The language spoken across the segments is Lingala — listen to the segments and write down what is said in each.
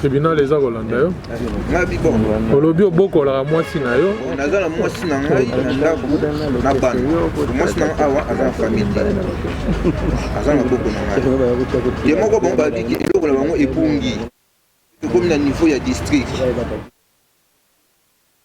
tribunal eza kolanda yo olobi obokolaka mwasi na yo naza na mwasi na ngai na ndako na bana mwasi na ngai awa aza na famille aza na boko na ngai ye moko bango babiki eloko na bango ebungi ekomi na niveau ya district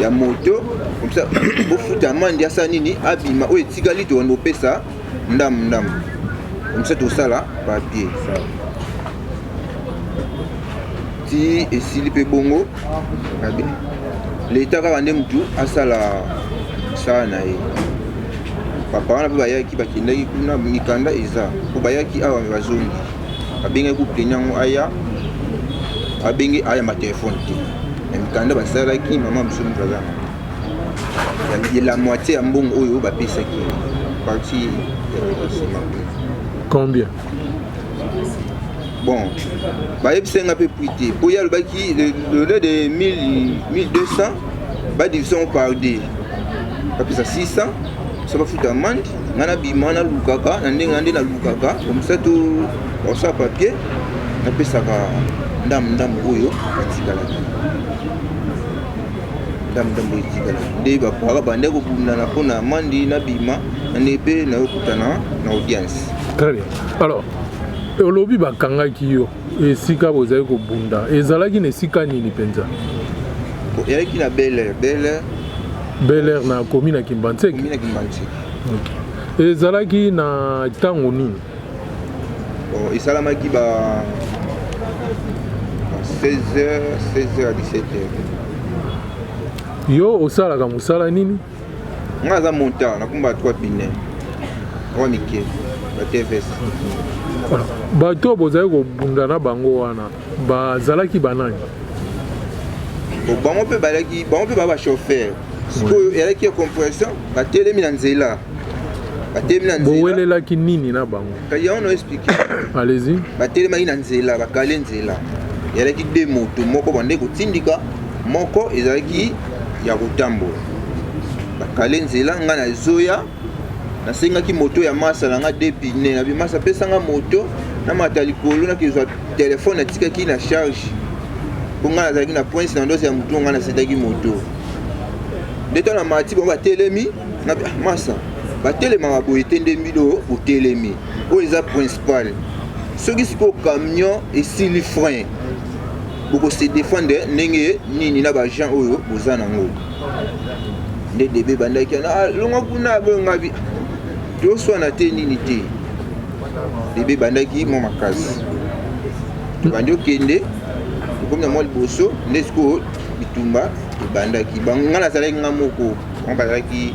ya moto comme ça bofuta amande ya saa nini abima oyo etikali tokende kopesa ndambo ndambo comme ça tosala papier ti esili mpe bongo leta kaka nde motu asala mosala na ye papa wana mpe bayaki bakendaki kuna mikanda eza mpo bayaki awa bazongi abengaki kupleni yango aya abenge aya matelefone te na mikanda basalaki mama biso mikaza la moitié ya mbongo oyo bapesaki parti ya nsima combien bon bayebisaki nga mpe prix te mpo ye alobaki lele de 1200 badivise yango par d bapesa 600 so bafuta amande ngai nabima nalukaka na ndenge na nde nalukaka komisa to osa papier napesaka ndambo ndambo oyo etikalaki ndambo ndambo oyo etikalaki nde bapaka bande kobundana mpo na mandi nabima na nde mpe nayokutana na audience très bien alors olobi bakangaki yo Esika bozali kobunda ezalaki na esika nini mpenza? Eyaki na Bel Air. Bel Air, Bel Air na komi na Kimbanseke. Komi na Kimbanseke. Okay. Ezalaki na ntango nini? Oh, esalamaki ba 16h, 16h à 17h. Yo osalaka mosala nini? nga aza monta na kumba 3 pine oyo mike na tvs bato oyo bozali kobunda na bango wana bazalaki banani bango mpe balaki bango mpe baa bachauffeur sikoyo elaki ya compression batelemi na nzela batelemi na nzela bowelelaki nini na bango kasi yango na explike allez-y batelemaki na nzela bakale nzela ezalaki de moto moko bande kotindika moko ezalaki ya kotambola bakale nzela ngai na zoya nasengaki moto ya masa na ngai de pine na bimasa apesanga moto na mata likolo nakezwa telefone natikaki na charge mpo ngai nazalaki na prince na ndosi ya motu ngai nasetaki moto nde to na mati bango batelemi na ah, masa batelemaka boye te nde mbido otelemi oyo eza principal soki sikoyo camion esili frein bokose defendre ndenge nini na baagent oyo boza nango nde debe ebandaki ana ah, longa kuna abongabi toswana te nini te debe ebandaki mwa makasi tobandi okende tokomi na mwa liboso nde sikoyo bitumba ebandaki bango ngai nazalaki ngai moko bango bazalaki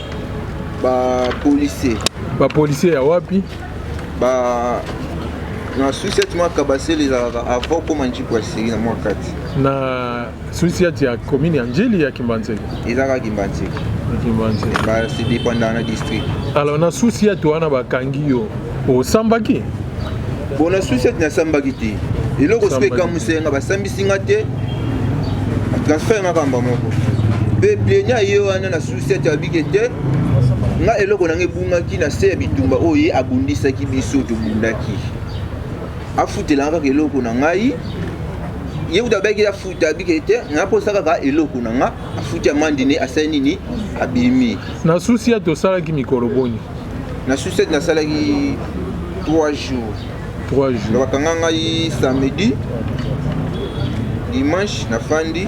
Ba policiers. Ba policiers ya wapi? Ba na susiati mwa kabasele ezalaka ava okoma njiku ya siri na mwa kati na susiati ya commune ya njili ya kimbanseke ezalaka kimbanseke se dépendaka na district alors na susiati wana bakangi yo osambaki bo na susiati nasambaki te eloko soki ekamusa nga basambisi nga te transfert nga kamba moko mpe plenia ye wana na Sete abike te nga eloko nanga ebungaki na se ya bitumba oyo ye abundisaki biso tobundaki afutelanga kaka eloko na ngai ye kutu abaki afuta abike te nga mposa kaka eloko na nga afuti amandi ne asali nini abimi na susi ya tosalaki mikolo boni na susi ete nasalaki 3 jours 3 jours bakanga ngai samedi dimanche nafandi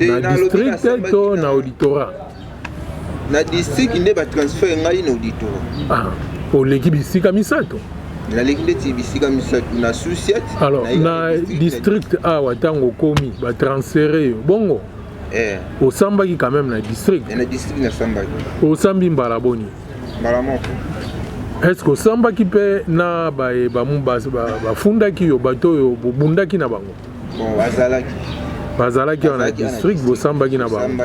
na district to na auditorat na district nde batransfere ngai na auditorat ah, oleki bisika misato naleki ndeti bisika misato na susiet alors na district awa ntango okomi batransfere yo bongo eh. osambaki quand même na district eh, na district nasambaki osambi mbala boni mbala moko est-ce que osambaki mpe na baye bafundaki yo bato oyo bobundaki na bango bon bazalaki bazalaki awa na district bosambaki na bango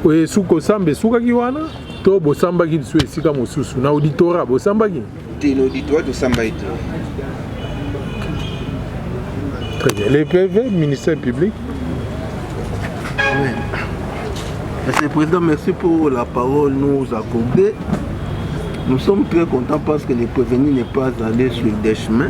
oye suki kosamba esukaki wana to bosambaki lisu esika mosusu na auditora bosambaki te na auditora tosambaki te très bien le pv ministère public Monsieur le Président, merci pour la parole nous accordée. Nous sommes très contents parce que le prévenu n'est pas allé sur des chemins.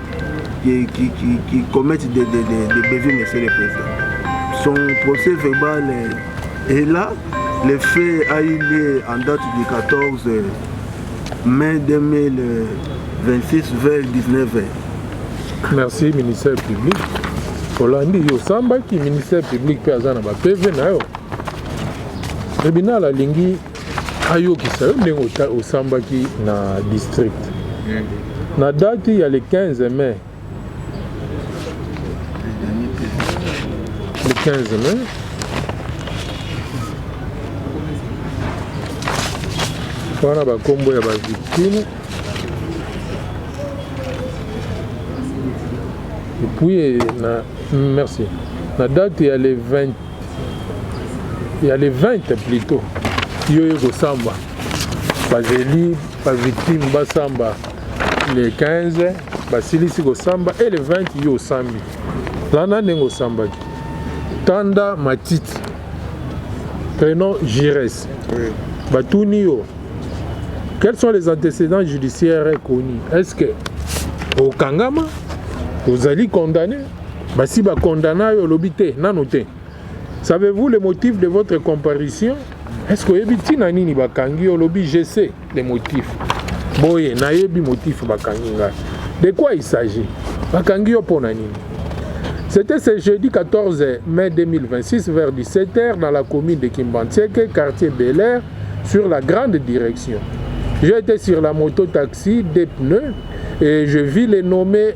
qui, qui, qui, qui commettent des, des, des, des bévues, monsieur le président. Son procès verbal est, est là. Le fait a eu lieu en date du 14 mai 2026 vers 19h. Merci, ministère public. olandi yo osambaki ministère public mpe aza na bapeve na yo tribunal alingi ayokisa yo ndenge osambaki na district hmm. na date ya le 15 mai le 15 mai wana bakombo ya bavictime epuis na merci na date ya le 20 ya le 20 plutot yo ye kosamba bazeli bavictime basamba le 15 basilisi kosamba e le 20 yo osambi lana ndenge osambaki tanda matiti prenom gires batuni yo quels sont les antécédents judiciaires connus est ce que okangama ozali condamné Basi ba condamna yo olobi te nano te. Savez-vous le motif de votre comparution? Est-ce que oyebi tina nini bakangi yo olobi je sais le motif. Boye nayebi motif bakangi ngai. De quoi il s'agit? Bakangi yo pona nini? C'était ce jeudi 14 mai 2026 vers 17h dans la commune de Kimbantieke, quartier Bel Air, sur la grande direction. J'étais sur la moto taxi, des pneus, et je vis les nommés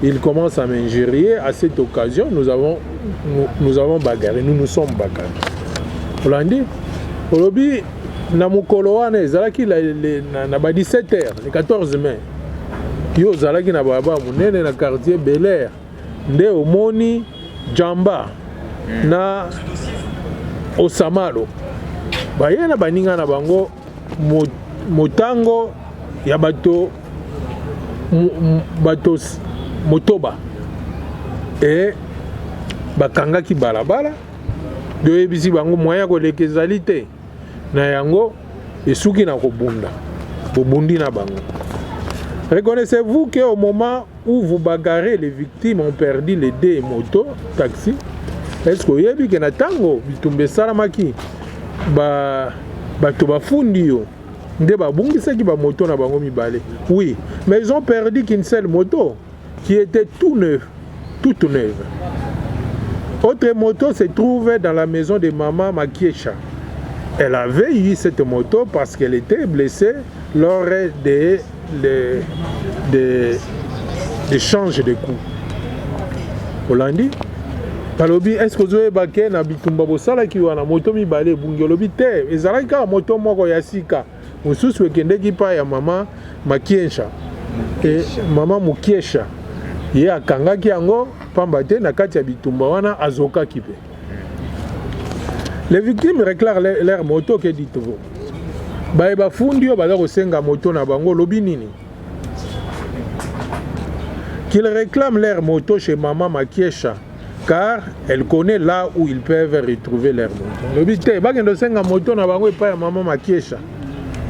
Il commence à m'injurier à cette occasion nous avons nous, nous avons bagarré nous nous sommes bagarré olandi olobi na mokolo wana ezalaki na ba 17 heures le 14 mai yo ozalaki na balabala monene na quartier bel air nde omoni jamba na osamalo baye na baninga na bango Motango ya bato motoba eye bakangaki balabala toyebisi bango moyen ya koleka ezali te, na yango esuki na kobunda bobundi na bango. Reconnaissez-vous qu'au moment Ou vous bagarrez les victimes ont perdu les deux moto taxi est ce que oyebi ke na tango bitumba esalamaki ba bato bafundi yo nde babungisaki bamoto na bango mibale oui mais ils ont perdu qu'une seule moto qui était tout neuf toute neuve autre moto se trouve dans la maison de maman makiesha elle avait eu cette moto parce qu'elle était blessée lors de les, des échanges de coups olandi balobi eske ozoyeba ke na bitumba bosalaki wana moto mibale ebungi olobi te ezalaki kaka moto moko ya sika mosusu ekendeki mpa ya mama makiensha e, mama mokiesha ye akangaki yango mpamba te na kati ya bitumba wana azokaki mpe Les victimes réclament leur moto que dites-vous baye bafundi yo baza kosenga moto na bango olobi nini qu'ils réclament leur moto chez maman Makiesha car elle connaît là où ils peuvent retrouver leur moto olobi te bakende osenga moto na bango epai ya maman Makiesha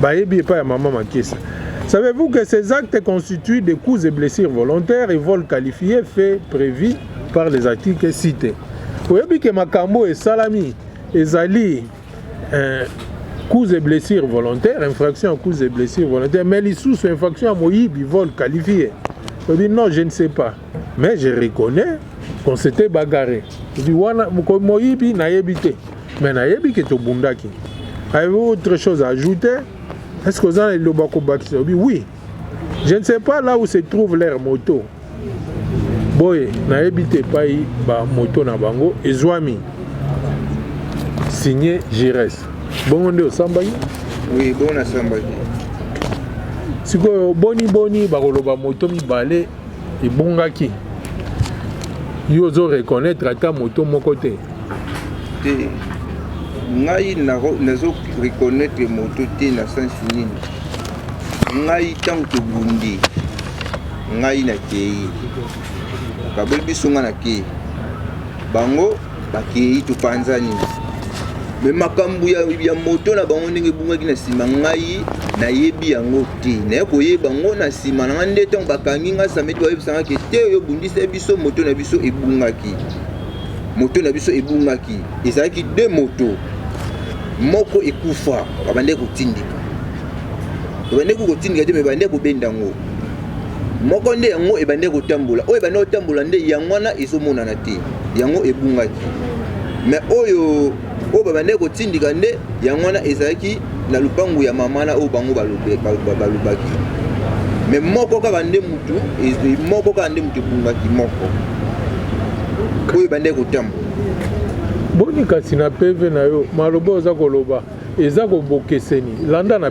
bayebi epai ya maman Makiesha Savez-vous que ces actes constituent des coups et blessures volontaires et vols qualifiés faits prévus par les articles cite oyebi ke makambo oyo esalami ezali eh, cause et blessure volontaire infraction ya cause et blessure volontaire mais lisusu infraction ya moyibi vol qualifié oyebi non je ne sais pas mais je reconnais qu'on s'était bagarre oyebi wana moyibi nayebi te mais nayebi ke tobundaki avez autre chose à ajouter est ce que oza na liloba kobakisa oyebi oui Je ne sais pas là où se trouve leur moto. Boye, nayebi te epai ba moto na bango ezwami. Signé Gires. Bongo nde osambaki? Oui, bon asambaki. sikoyo boni boni bakoloba moto mibale ebongaki yo ozo reconnaître ata moto moko te te ngai nazo reconnaître moto te na sensi nini ngai ntango tobundi ngai nakei bakaboli biso ngai nakei bango bakei topanzani me makambo ya, ya moto na bango ndenge ebungaki na nsima ngai nayebi yango te naye koyeba yango na nsima na ngai nde ntango bakangi ngai samedi bayebisanga ke te oyo obundisa biso moto na biso ebungaki moto na biso ebungaki ezalaki de moto moko ekufa babandaki kotindika babandaki kotindika te me babandaki kobenda yango moko nde yango ebandaki kotambola oyo ebandaki kotambola nde yango wana ezomonana te yango ebungaki me oyo oyo babandaki kotindika nde yango wana ezalaki na lupangu ya mama na oyo bango balobaki me moko kaka nde mutu moko kaka nde mutu ebungaki moko oyo ebandaki kotambola boni kasi na peve na yo maloba oza koloba eza ko bokeseni landa na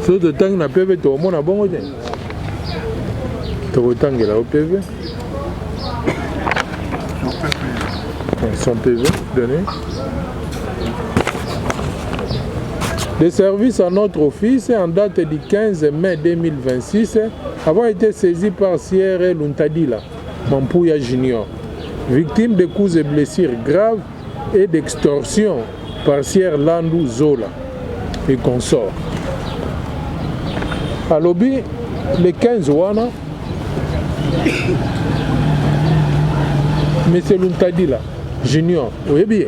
soki totangi na peve tokomona bongo te tokotangela yo peve son peve donné Le service à notre office en date du 15 mai 2026 avons été saisi par Sierre Luntadila, Mampuya Junior, victime de coups et blessures graves et d'extorsion parcière Landu Zola et consort. Alobi le 15 wana Monsieur Luntadila Junior oyebi ye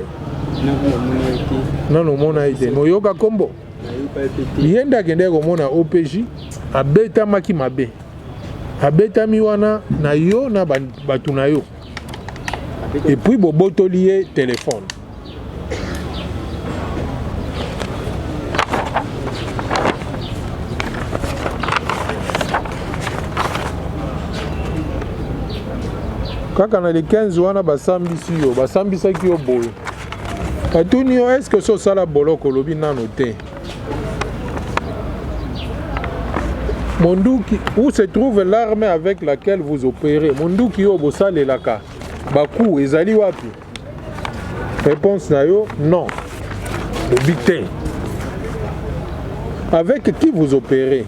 nano omona ye te moyoka nkombo ye nde akendaki komona opj abetamaki mabe abetami wana na yo na bato na yo et puis bobotoli ye telefone kaka na le 15 wana basambisi yo basambisaki yo boye batuni yo eske so osala boloko olobi nano te monduki où se trouve l'arme avec laquelle vous opérez monduki oyo bosalelaka baku ezali wapi réponse na yo non lobi te avec qui vous opérez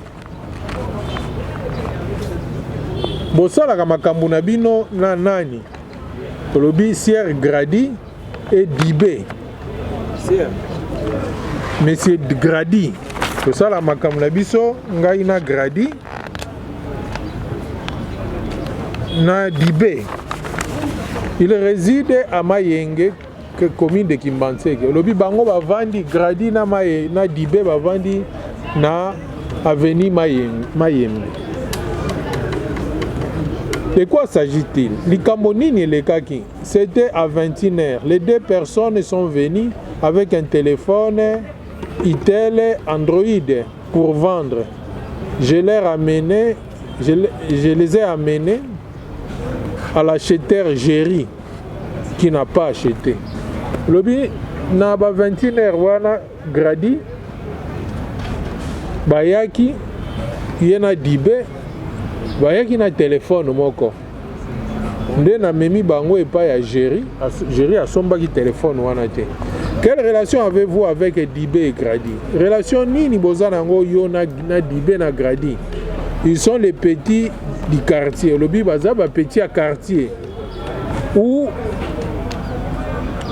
bosalaka makambo na bino na nani olobi siere gradi et Dibé. Monsieur Grady, tosala makambo na biso ngai na Grady na Dibé. Il réside à Mayenge, commune de Kimbanseke. Olobi bango bavandi Grady na Maye na Dibé bavandi na avenue Mayenge. Mayenge. De quoi s'agit-il? Likambo nini elekaki? C'etait à 21 heures, les deux personnes sont venues avec un telephone Itel Android pour vendre. Je leur amenais, je, je les ai amenés à l'acheteur Jerry qui n'a pas acheté. Lobi na ba 21 heures wana gradi bayaki ye na dibe bayaki na telefone moko nde namemi bango epai ya Jerry. Jerry asombaki telefone wana te. Quelle relation avez-vous avec Dibe et Grady? Relation nini boza nango yo na, na Dibe na Grady? Ils sont les petits du quartier. Olobi baza ba petits ya quartier. Où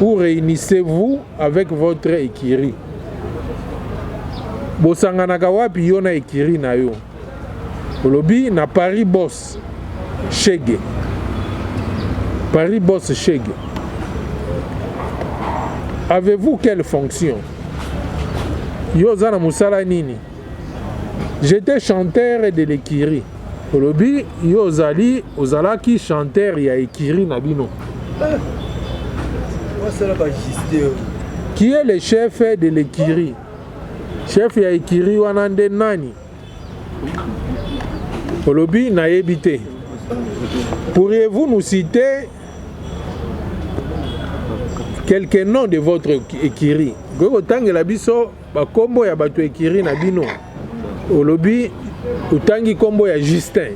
où réunissez-vous avec votre écurie? Bosanganaka wapi yo na écurie na yo? Olobi na Paris boss chegue. Paris boss chegue. Avez-vous quelle fonction? Yo oza na musala nini? J'étais chanteur de l'écurie. Olobi yo ozali ozalaki chanteur ya écurie na bino. Eh. Qui est le chef de l'écurie? Chef ya écurie wana nde nani? olobi nayebi te pourriez-vous nous citer quelques noms de votre ekiri okoki kotangela biso bakombo ya bato ekiri na bino olobi otangi kombo ya justin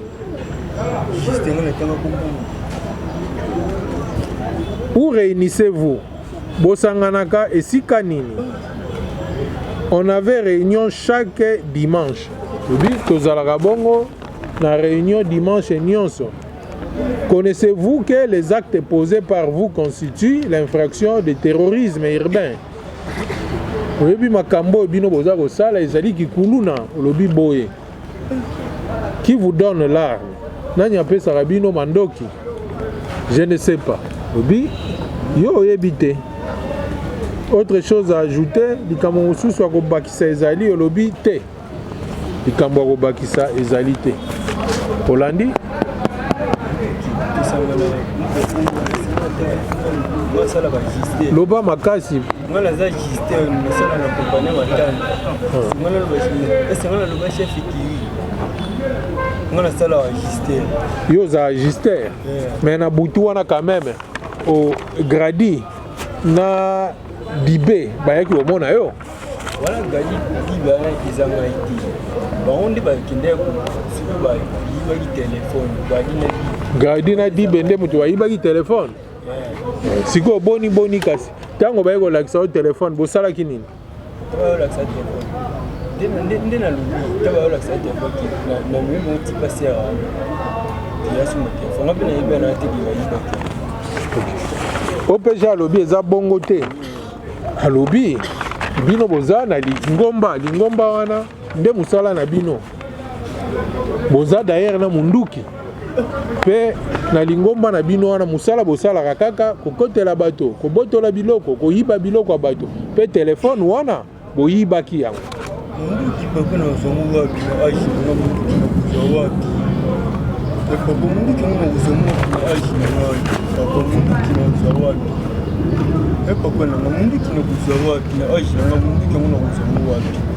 où réunissez-vous Bosanganaka esika nini? On avait reunion chaque dimanche. Lobi tozalaka bongo na reunion dimanche nionso. Connaissez-vous que les actes posés par vous constituent l'infraction de terrorisme urbain? oyebi makambo oyo bino boza kosala ezali kikuluna olobi boye Qui vous donne l'arme Nani apesaka bino mandoki Je ne sais pas. Obi, yo oyebi te. Autre chose à ajouter, likambo mosusu ya kobakisa ezali olobi te. Likambo ya kobakisa ezali te. Olandi loba makasi yo oza agister mais na butu wana quand même o gradi na bibe bayaki komona yo wana gradi bibe wana eza ngai te bango nde bakendaki soki bayibaki telefone gradi na bibe nde moto bayibaki telefone sikoyo boni boni kasi ntango baye kolakisa yo telefone bosalaki nini nde nalobi ntango baye kolakisa yo telefone na moyi moko tipa sera ya suma telefone ngape nayebi wana te bibayiba te opeja alobi eza bongo te alobi bino boza na lingomba lingomba wana nde mosala na bino boza dayere na munduki mpe na lingomba na bino wana mosala bosalaka kaka kokotela bato kobotola biloko koyiba biloko ya bato mpe telefone wana boyibaki yango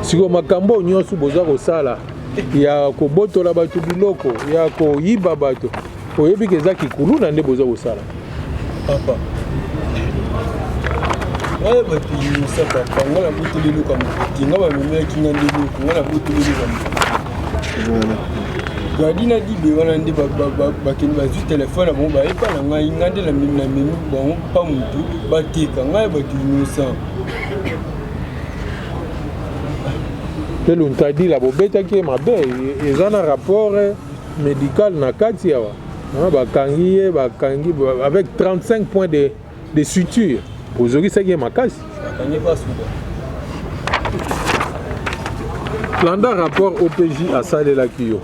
sikoyo makambo nyonso boza kosala ya kobotola bato biloko ya koyiba bato oyebi ke eza kikuluna nde boza kosala papa ngai bapili mosa papa ngai nabotoli eloko ya mokuti ngai bamemelaki ngai nde eloko ngai nabotoli eloko ya mokuti gadi na dibe wana nde bakende bazwi telefone na bango bayepa na ngai ngai nde namemi bango mpa motu bateka ngai bato innocent mpe luntadila bobetaki ye mabe eza na rapport eh, médical na kati awa ah, bakangi ye bakangi avec 35 points de, de suture ozokisaki ye makasi landa rapport opj asalelaki yo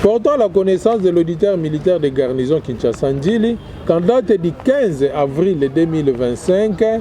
portant la connaissance de l'auditeur militaire de garnison kinshasa ndjili qu'en date du 15 avril 2025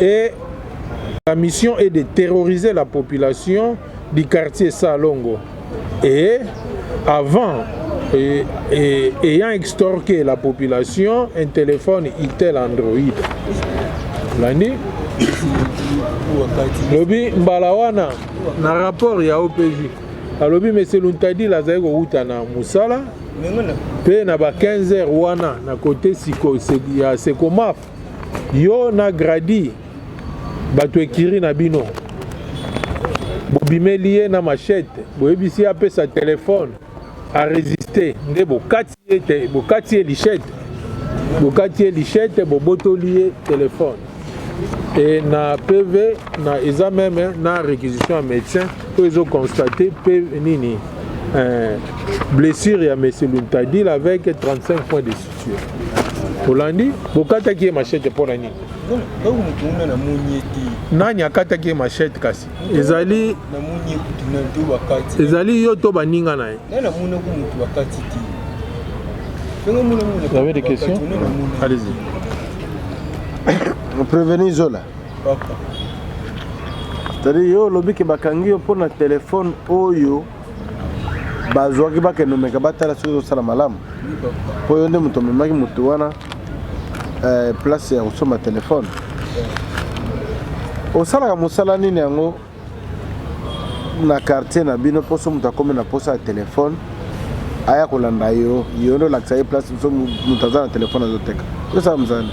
et sa mission est de terroriser la population du quartier Salongo et avant et, et, ayant extorqué la population un téléphone Itel Android olandi lobi mbala wana na rapport ya OPJ alobi monsieur Luntadila azali kowuta na mosala mpe na ba 15 heures wana na kote ya Secomaf Yo na Grady bato ekiri na bino bobimeli ye na machette boyebisi ye apesa telefone aresiste nde bokati ye te bokati ye lichette bokati ye lichette bobotoli ye telefone e na pv na eza meme na réquisition ya médecin oyo ezoconstate p nini euh, blessure ya monsieur luntadil avec 35 points de suite olandi bokataki ye machete mpo na nini nani akataki ye machete kasi ezali ezali yo to baninga na ye Vous avez des questions Allez-y. Prévenez Zola. C'est-à-dire, yo, lobi ke bakangi yo mpo na telefone oyo bazwaki bakende omeka batala soki ezosala malamu mpo yo nde moto omemaki moto wana eh, place ya kosomba telefone osalaka mosala nini yango na quartier na bino mposo moto akomi na mposa ya telefone aya kolanda yo yo nde olakisa ye place so moto aza na telefone azoteka tosala mosala nini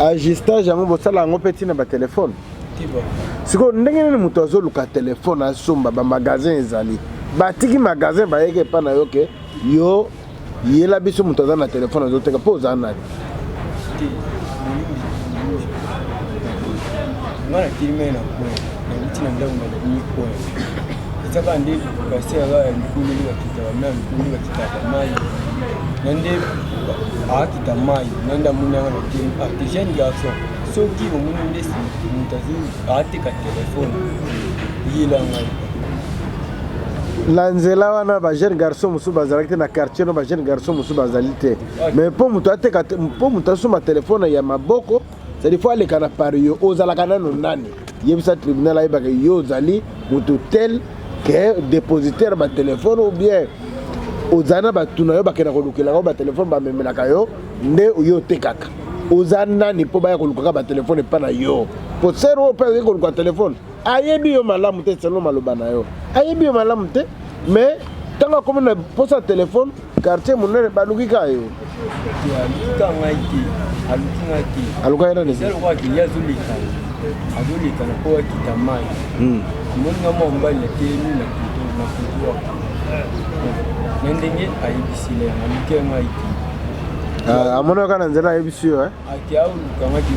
ajustage yango bosala yango mpe ntina batelefone sikoyo ndenge nini moto azoluka telefone asomba bamagasin ezali batiki magasin bayeke epa na yo ke yo yela biso moto aza na telefone azoteka mpo oza nani nga nakili mai na koya nauti na ndako na komi koya ezaka nde basi yaka ya mikumeli bakitaka mai ya mikumeli bakitaka mai na nde akita mai na nde amoni yanga na tele artigiane garçon soki omoni ndesi moto ateka telefone yela ngai na nzela wana ba jeune garçon mosusu bazalaki te na quartier no ba jeune garçon mosusu bazali te mais mpo moto ateka mpo moto asomba telefone ya maboko cetadi fo aleka na pari yo ozalaka nano nani yebisa tribunal ayebaka yo ozali moto tel ke dépositaire batelefone ou bien ozali na bato na yo bakenda kolukelaka yo batelefone bamemelaka yo nde yo otekaka oza nani mpo baya kolukaka batelefone epa na yo mpo sere oyo mpe akoki koluka telefone ayebi yo malamu te selo maloba na yo ayebi yo malamu te mais ntango akomi na mposa ya telefone quartier monene baluki ka yo alukaki nani azoleka na po akita mai hmm. amoni nga mwa mobali atelemi na kutu na ndenge ayebisela yanga moke yango ayiki Eh, amoni kaka na nzela ayebisi yo eh? ati aolukamaki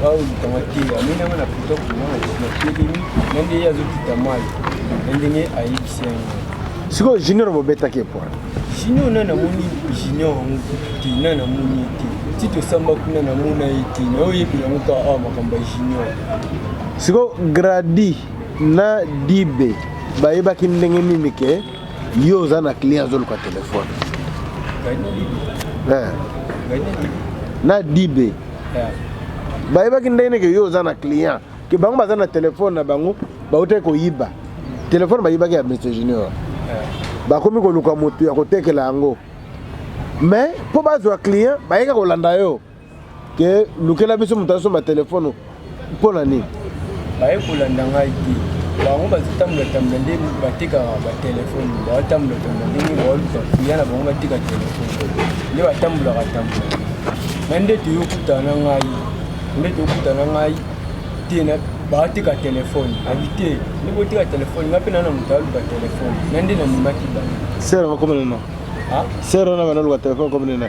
aolukamaki amoni yango na poto komona natelemi na nde ye azokita mai na ndenge ayebisi yango sikoyo junior bobetaki epoi junior na namoni junior yango te na namoni ye te ti tosamba kuna namona ye te naoyebela yango kaka awa makambo ya junior sikoyo gradi na dibe bayebaki ndenge nini ke Yo oza na client azoluka telefone eh. na dibe eh. bayebaki ndenge neke yo oza na client ke bango baza na telefone na bango bautaki koyiba telefone bayibaki ya monsieur junior eh. bakomi koluka motu ya kotekela yango mais mpo bazwa client bayeka kolanda yo Ke lukela biso moto asomba telefone mpo na nini? Baye kolanda ngai te. Bango bazotambola tambola nde batekaka batelefone, baotambola tambola ndenge baoluka kuya na bango bateka telefone nde batambolaka tambola. Na nde toyokutana na ngai, nde tokutana na ngai te na baoteka telefone abi te nde boteka telefone ngai mpe nana moto aluka telefone na nde namemaki bango. Sera bakomelana? Sera na bana luka telefone komelana?